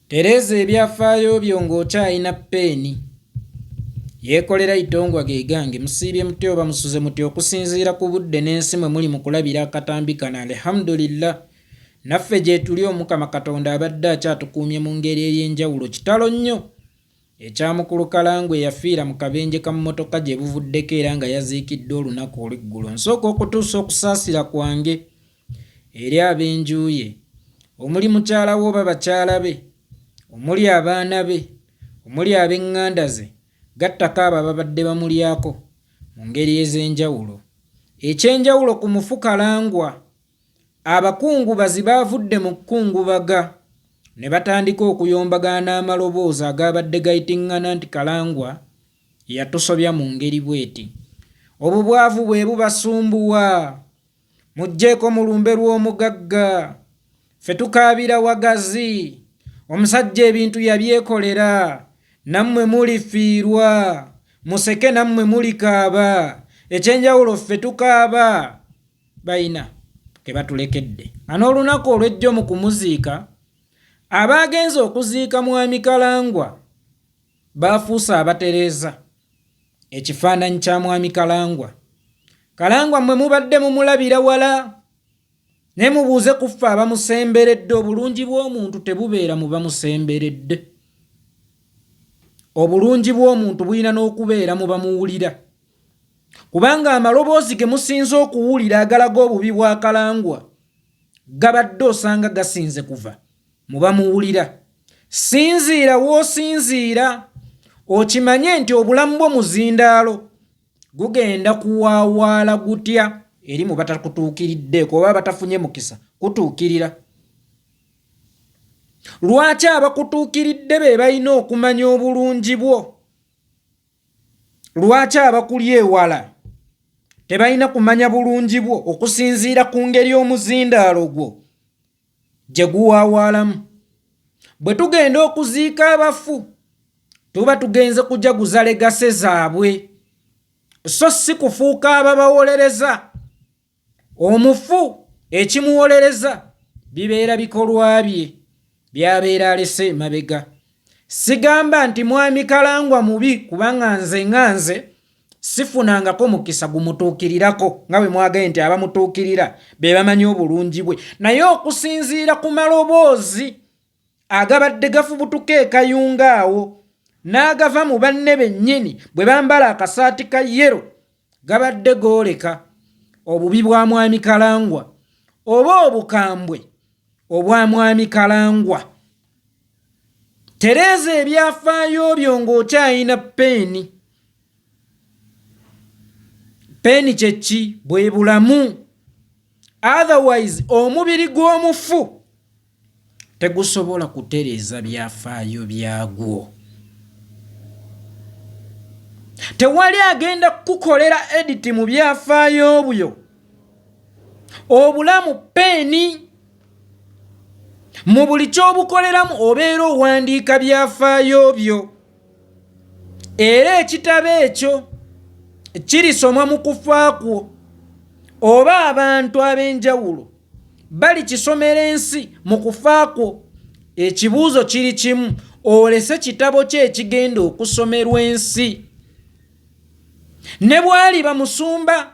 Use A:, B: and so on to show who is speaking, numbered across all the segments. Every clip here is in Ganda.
A: Tereeza ebyafaayo byo ng'okyalina ppeeni. Yeekolera Itongwa ge gange, musiibye mutya oba musuze mutya okusinziira ku budde n'ensi mwe muli mu kulabira akatambi kano alihamudulillah naffe gyetuli omukama katonda abadde akyatukuumye mu ngeri ey'enjawulo kitalo nnyo ekyamukulu kalangwe yafiira mu kabenje ka mmotoka gye buvuddeko era nga yaziikiddwa olunaku olweggulo nsooka okutuusa okusaasira kwange eri ab'enju ye omuli mukyala we oba bakyala be omuli abaana be omuli ab'eŋŋanda ze gattako abo ababadde bamulyako mu ngeri ez'enjawulo. Eky'enjawulo ku mufu Kalangwa, abakungubazi baavudde mu kukungubaga ne batandika okuyombagana n'amaloboozi agaabadde gayiting'ana nti Kalangwa yatusobya mu ngeri bw'eti, obubwavu bwe bubasumbuwa. mujjeeko mu lumbe lw'omugagga ffe tukaabira wagazi omusajja ebintu yabyekolera nammwe mulifiirwa museke nammwe mulikaaba ekyenjawulo ffe tukaaba bayina kebatulekedde anoolunaku olwejjo mu kumuziika abaagenze okuziika mwami kalangwa baafuuse abatereeza ekifaananyi kya mwami kalangwa kalangwa mwe mubadde mumulabira wala naye mubuuze ku ffe abamusemberedde obulungi bw'omuntu tebubeera mu bamusemberedde obulungi bw'omuntu bulina n'okubeera mu bamuwulira kubanga amaloboozi ge musinze okuwulira agalaga obubi bwa kalangwa gabadde osanga gasinze kuva muba muwulira sinziira w'osinziira okimanye nti obulamu bwo muzindaalo gugenda kuwaawaala gutya eri mu batakutuukiriddeeko oba batafunye mukisa kutuukirira lwaki abakutuukiridde be balina okumanya obulungi bwo lwaki abakuli ewala tebalina kumanya bulungi bwo okusinziira ku ngeri omuzindaalo gwo gye guwaawaalamu. Bwe tugenda okuziika abafu tuba tugenze kujaguza legase zaabwe so si kufuuka ababawolereza. Omufu ekimuwolereza bibeera bikolwa bye by'abeera alese emabega. Sigamba nti mwami Kalangwa mubi kubanga nze nga nze sifunangako mukisa gumutuukirirako nga bwe mwagaye nti abamutuukirira be bamanyi obulungi bwe naye okusinziira ku maloboozi agabadde gafubutuka ekayunga awo n'agava mu banne bennyini bwe bambala akasaati ka yero gabadde gooleka obubi bwa mwami kalangwa oba obukambwe obwa mwami kalangwa tereeza ebyafaayo byo ng'okyayina peeni peeni kyekki bwe bulamu otherwise omubiri gw'omufu tegusobola kutereeza byafaayo byagwo tewali agenda kukukolera editi mu byafaayo byo obulamu peeni mu buli ky'obukoleramu obeera owandiika byafaayo byo era ekitabo ekyo kirisomwa mu kufa kwo oba abantu ab'enjawulo balikisomera ensi mu kufa kwo ekibuuzo kiri kimu olese kitabo kyo ekigenda okusomerwa ensi ne bwaliba musumba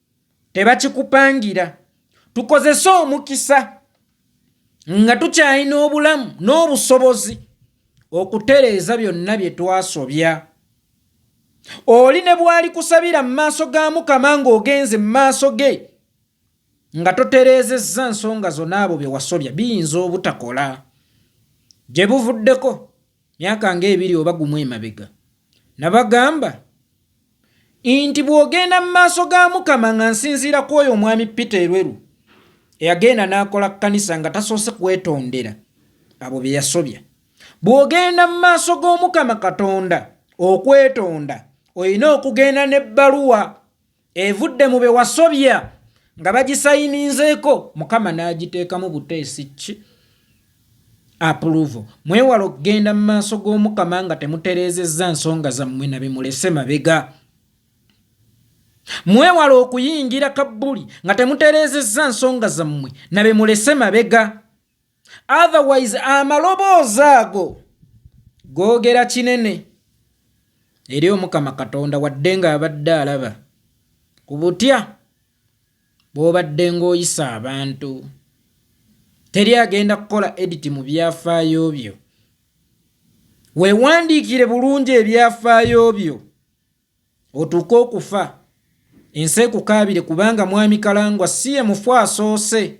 A: tebakikupangira tukozese omukisa nga tukyalina obulamu n'obusobozi okutereeza byonna bye twasobya oli ne bwali kusabira mu maaso ga mukama ng'ogenze mu maaso ge nga totereezezza nsonga zona abo bye wasobya biyinza obutakola gye buvuddeko myaka ng'ebiri oba gumu emabega nabagamba nti bw'ogenda mu maaso ga mukama nga nsinziira ku oyo omwami peter erweru eyagenda n'akola kkanisa nga tasoose kwetondera abo bye yasobya bw'ogenda mu maaso g'omukama katonda okwetonda olina okugenda n'ebbaluwa evudde mu be wasobya nga bagisayininzeeko mukama n'agiteekamu buteesi ki apuluvo mwewale okugenda mu maaso g'omukama nga temutereezezza nsonga zammwe na bimulese mabega mwewale okuyingira kabbuli nga temutereezezza nsonga zammwe na bimulese mabega otherwise amaloboozi ago googera kinene eri omukama katonda wadde ng'abadde alaba ku butya bwobaddenga oyisa abantu. Teri agenda kukola edit mu byafaayo byo. Weewandiikire bulungi ebyafaayo byo otuuke okufa ensi ekukaabire kubanga mwami Kalangwa si ye mufu asoose.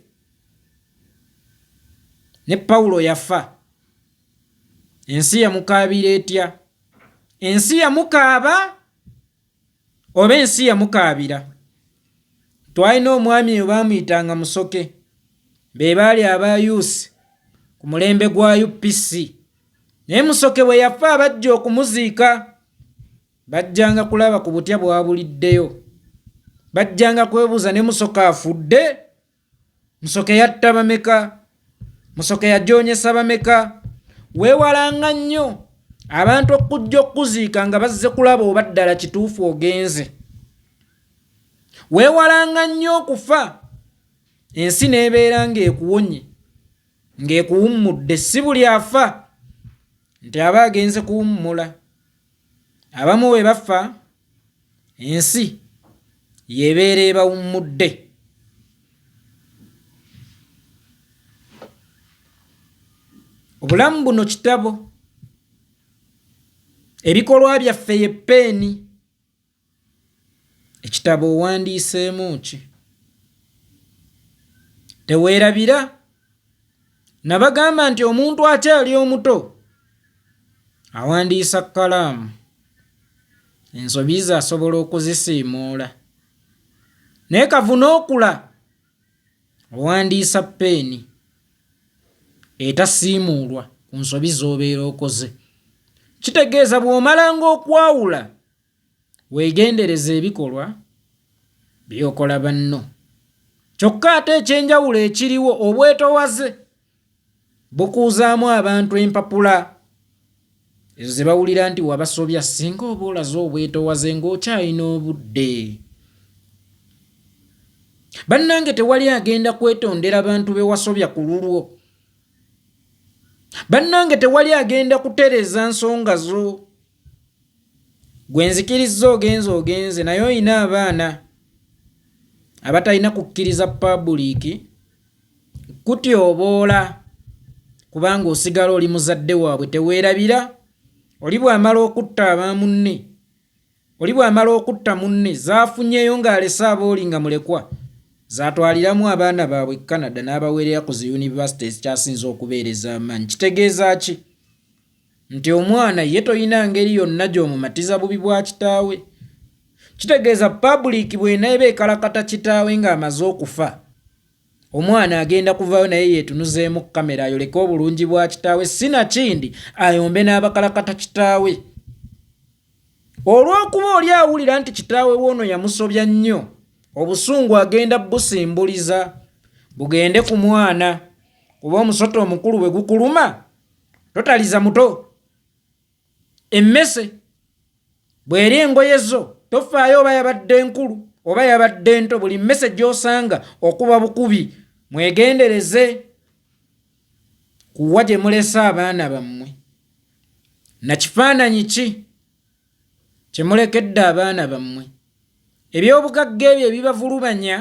A: Ne Pawulo yafa. Ensi yamukaabira etya? Ensi yamukaaba. Oba ensi yamukaabira. Twalina omwami eyo baamuyitanga Musoke. Be baali aba UC ku mulembe gwa UPC. Naye Musoke bwe yafa abajja okumuziika bajjanga kulaba ku butya bwabuliddeyo. Bajjanga kwebuuza ne Musoke afudde? musoke yatta bameka musoke yajoonyesa bameka weewalanga nnyo abantu okujja okukuziika nga bazze kulaba oba ddala kituufu ogenze weewalanga nnyo okufa ensi n'ebeera ng'ekuwonye ng'ekuwummudde si buli afa nti aba agenze kuwummula Abamu bwe bafa ensi yebeera ebawummudde. Obulamu buno kitabo. Ebikolwa byaffe ye ppeeni. Ekitabo owandiiseemu ki? Teweerabira? Nabagamba nti omuntu akyali omuto awandiisa kkalaamu, ensobi ze asobola okuzisiimuula. Naye kavuna okula owandiisa peeni etasiimuulwa ku nsobi z'obeera okoze. Kitegeeza bw'omalanga okwawula Weegendereze ebikolwa by'okola banno. Kyokka ate ekyenjawulo ekiriwo obwetowaze bukuuzaamu abantu empapula ezo ze bawulira nti wabasobya singa oba olaze obwetowaze ng'okyalina obudde. Bannange tewali agenda kwetondera bantu be wasobya ku lulwo. Bannange tewali agenda kutereeza nsonga zo. gwe nzikirizza ogenze ogenze naye olina abaana abatalina kukkiriza pabuliiki kutyoboola kubanga osigala oli muzadde waabwe teweerabira oli bw'amala okutta aba munne oli bw'amala okutta munne zaafunyeyo ng'alese abooli nga mulekwa zaatwaliramu abaana baabwe canada n'abaweerera ku zi yunivasite ezikyasinza okubeereza amaanyi kitegeeza ki nti omwana ye toyina ngeri yonna gy'omumatiza bubi bwa kitaawe. Kitegeeza pabuliiki bw'eneeba ekalakata kitaawe ng'amaze okufa, omwana agenda kuvaayo naye yeetunuzeemu kkamera ayoleke obulungi bwa kitaawe si na kindi ayombe n'abakalakata kitaawe. Olw'okuba oli awulira nti kitaawe we ono yamusobya nnyo, obusungu agenda busimbuliza bugende ku mwana kuba omusota omukulu bwe gukuluma. totaliza muto emmese bw'eri engoye zo tofaayo oba yabadde nkulu oba yabadde nto buli mmese gy'osanga okuba bukubi mwegendereze kuwa gye mulese abaana bammwe na kifaananyi ki kye mulekedde abaana bammwe ebyobugagga ebyo ebibavulubanya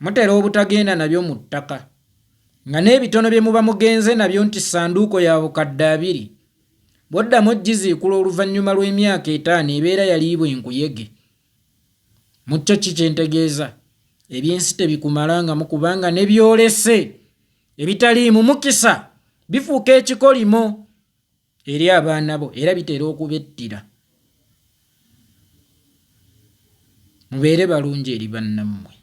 A: mutera obutagenda nabyo mu ttaka nga n'ebitono bye muba mugenze nabyo nti ssanduuko ya bukadde abiri bw'oddamu ogiziikula oluvannyuma lw'emyaka etaano ebeera yaliibwa enkuyege mu kyo ki kye ntegeeza ebyensi tebikumalangamu kubanga ne byolese ebitaliimu mukisa bifuuka ekikolimo eri abaana bo era bitera okubettira mubeere balungi eri bannammwe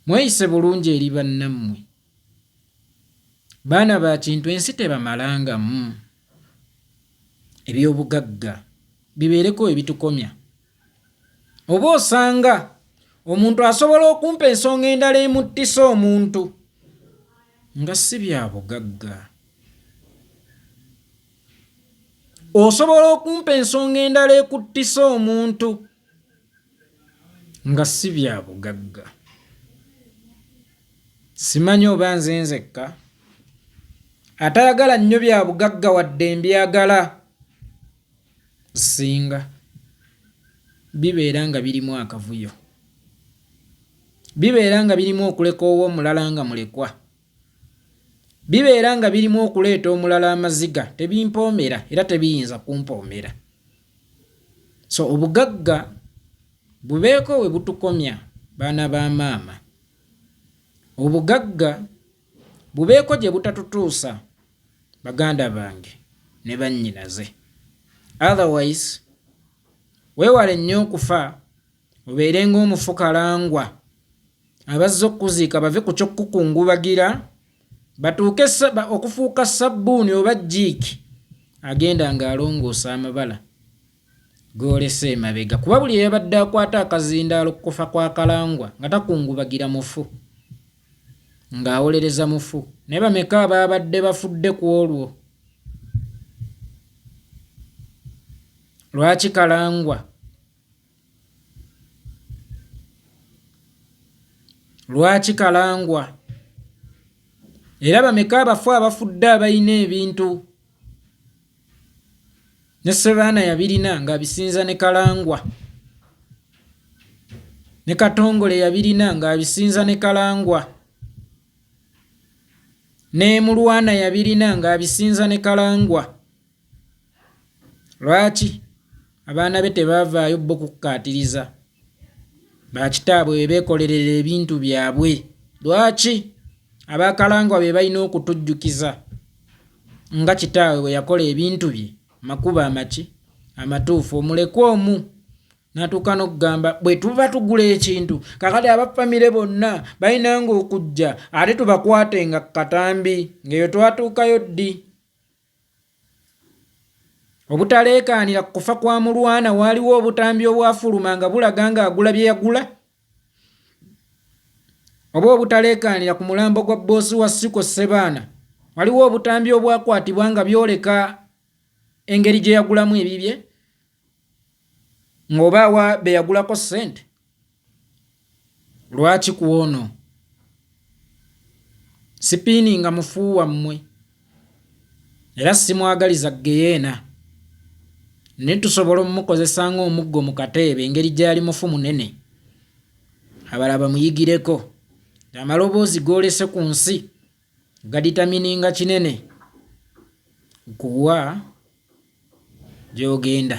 A: mweyise bulungi eri bannammwe baana ba kintu ensi tebamalangamu ebyobugagga bibeereko ebitukomya Oba osanga omuntu asobola okumpa ensonga endala emuttisa omuntu nga si bya bugagga. Osobola okumpa ensonga endala ekuttisa omuntu nga si bya bugagga. Simanyi oba nze nzekka atayagala nnyo bya bugagga wadde mbyagala. Ssinga bibeera nga birimu akavuyo, bibeera nga birimu okulekoowa omulala nga mulekwa, bibeera nga birimu okuleeta omulala amaziga, tebimpoomera era tebiyinza kumpoomera. So obugagga bubeeko we butukomya baana ba maama. Obugagga. bubeeko gye butatutuusa baganda bange ne bannyinaze otherwise weewale nnyo okufa obeere ng'omufu kalangwa abazze okukuziika bave ku ky'okukukungubagira batuuke okufuuka sabbuuni oba jiiki agenda ng'alongoosa amabala gw'olese emabega kuba buli eyabadde akwata akazindaalo ku kufa kwa Kalangwa nga takungubagira mufu ng'awolereza mufu naye bameka abaabadde bafudde ku olwo lwaki Kalangwa lwaki Kalangwa era bameka abafu abafudde abalina ebintu ne sebaana yabirina nga abisinza ne kalangwa ne katongole yabirina nga abisinza ne kalangwa ne mulwana yabirina nga abisinza ne kalangwa lwaki Abaana be tebaavaayo bbo kukkaatiriza ba kitaabwe be beekolerera ebintu byabwe. Lwaki? Abaakalangwa be balina okutujjukiza nga kitaabwe bwe yakola ebintu bye makubo amaki amatuufu omulekwa omu natuuka n'okugamba bwe tuba tugula ekintu kakati aba famire bonna balina nga okujja ate tubakwate nga katambi ng'eyo twatuukayo ddi obutaleekaanira ku kufa kwa mulwana waaliwo obutambi obwafuluma nga bulaga nga agula bye yagula oba obutaleekaanira ku mulambo gwa bboosi wa siko ssebaana waliwo obutambi obwakwatibwa nga byoleka engeri gye yagulamu ebibye ng'oba awa be yagulako ssente lwaki ku ono sipiini nga mufu wammwe era simwagaliza geyeena naye tusobola omukozesa ng'omuggo mu kateebe engeri gyali mufu munene abala bamuyigireko amaloboozi goolese ku nsi Gaditamininga kinene nkuwa gy'ogenda.